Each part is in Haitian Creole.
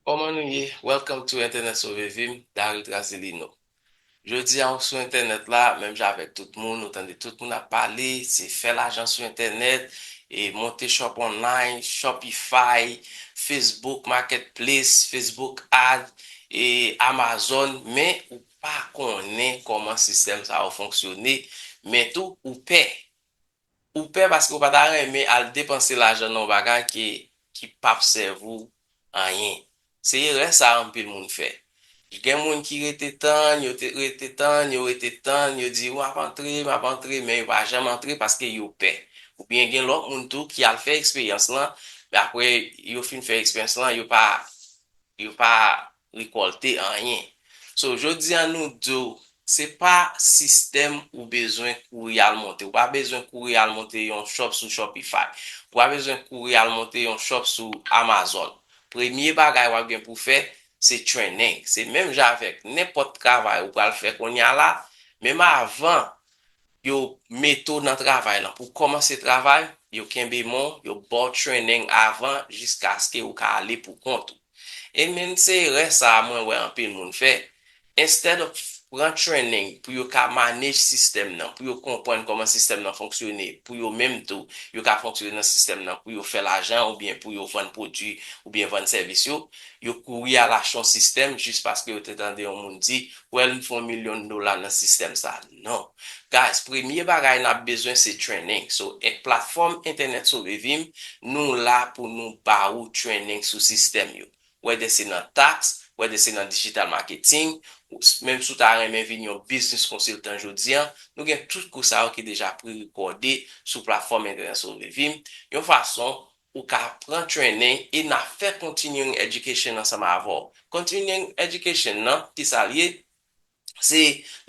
Koman nou ye? Welcome to entènèt sove vim Dary Trazilino Jodi a ou sou entènèt la menm jan avèk tout moun ou tande tout moun ap pale se fè lajan sou entènèt e monte shop online shopify facebook market place facebook ad e amazon men ou pa konnen koman sistèm sa yo fonksyone men tou ou pè Ou pè paske ou pa ta renmen al depanse lajan nan yon bagay ke ki pap sèvi w anyen. Se erè sa anpil moun fè. Gen moun ki rete tann, yo te rete tann, yo rete tann, yo di map antre, map antre men yo pa janm antre paske yo pè. Oubyen gen lòt moun tou ki al fè eksperyans lan men apre yo fin fè eksperyans lan yo pa yo pa rekòlte anyen so jodi a nou diw se pa sistèm ou bezwen kouri al monte ou pa bezwen kouri al monte yon shop sou shopify ou pa bezwen kouri al monte yon shop sou amazon premye bagay wap gen pou fè se training se menm jan avèk nenpòt travay ou pral fè kounye a la menm avan Yo mete w nan travay lan. Pou w kòmanse travay, yo kenbe men w, yo ba w trening avan jiskaske ou ka ale pou kont ou. E menn se erè sa a mwen wè anpil moun fè. Instead of pran trening pou yo ka manage sistèm nan, pou yo konprann kòman sistèm nan fonksyone, pou yo menm tou yo ka fonksyone nan sistèm nan, pou yo fè lajan oubyen pou yo vann pwodui oubyen vann sèvis yo, yo kouri al achte yon sistèm jis paske yo te tande yon moun di, wèl m fè yon milyon dola nan sistèm sa a. Non. Guys premye bagay nap bezwen se training so en platform entènèt sove vim nou la pou nou ba ou training sou sistèm yo whether se nan tax whether se nan digital marketing menm si w ta renmen vin yon business consultant jodi an nou gen tout kou sa yo ki deja pre recorde sou platform entènèt sove vim yon fason ou ka pran training e na fè continuing education ansanm avè w continuing education nan kisa l ye se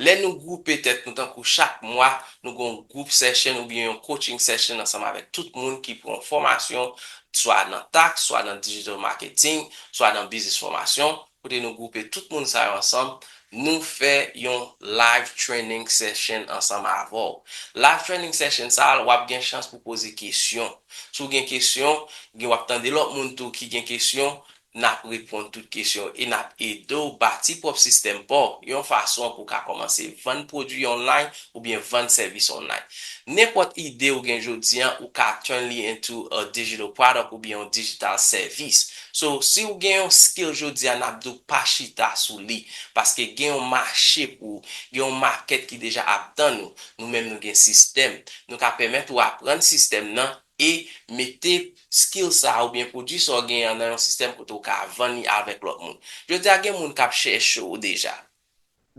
lè nou gwoupe tèt nou tankou chak mwa nou gen yon group session oubyen yon coaching session ansanm avèk tout moun ki pran yon fòmasyon swa nan tax, swa nan digital marketing, swa nan business fòmasyon kote nou gwoupe tout moun sa yo ansanm nou fè yon live training session ansanm avèw. Live training session sa a wap gen chans pou poze kesyon. Si w gen kesyon, gen wap tande lòt moun tou ki gen kesyon n ap reponn tout kesyon w e n ap ede w bati pwòp sistèm pa w yon fason pou w ka kòmanse vann pwodui online oubyen vann sèvis online. Nenpòt ide ou gen jodi an ou ka turn li into a digital product oubyen yon digital service. So, si w gen yon skill jodi a n ap di w pa chita sou li paske gen yon mache pou ou, gen yon market ki deja ap tann ou. Nou menm nou gen sistèm. Nou ka pèmèt ou aprann sistèm nan e mete skill sa a oubyen pwodui sa w genyen an nan yon sistèm kote w ka vann li avèk lòt moun. Jodi a gen moun k ap chèche w deja.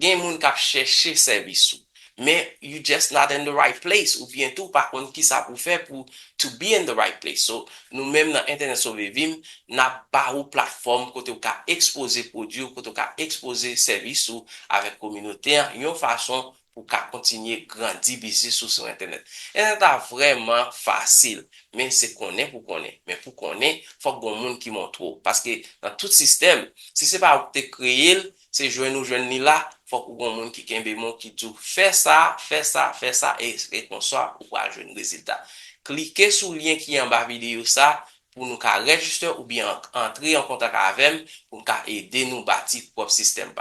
Gen moun k ap chèche sèvis ou. Men you just not in the right place oubyen tou w pa konn kisa pou w fè pou to be in the right place. So, nou menm nan Entènèt Sove Vim, n ap ba ou platfòm kote w ka ekspoze pwodui w, kote w ka ekspoze sèvis ou avèk kominote an yon fason Ou ka kontinye grandi biznis ou sou entènèt. Entènèt la vrèman fasil, men se konnen pou konnen. Men pou konnen, fòk gon moun ki montre w. Paske nan tout sistèm, si se pa ou ki te kreye l, se jwenn ou jwenn li la, fòk ou gon moun ki kenbe men w ki di w fè sa, fè sa, fè sa e se konsa ou pral jwenn rezilta. Klike sou lyen ki anba videyo sa pou nou ka rejiste oubyen antre an kontak avè m pou m ka ede nou bati pwòp sistèm pa nou.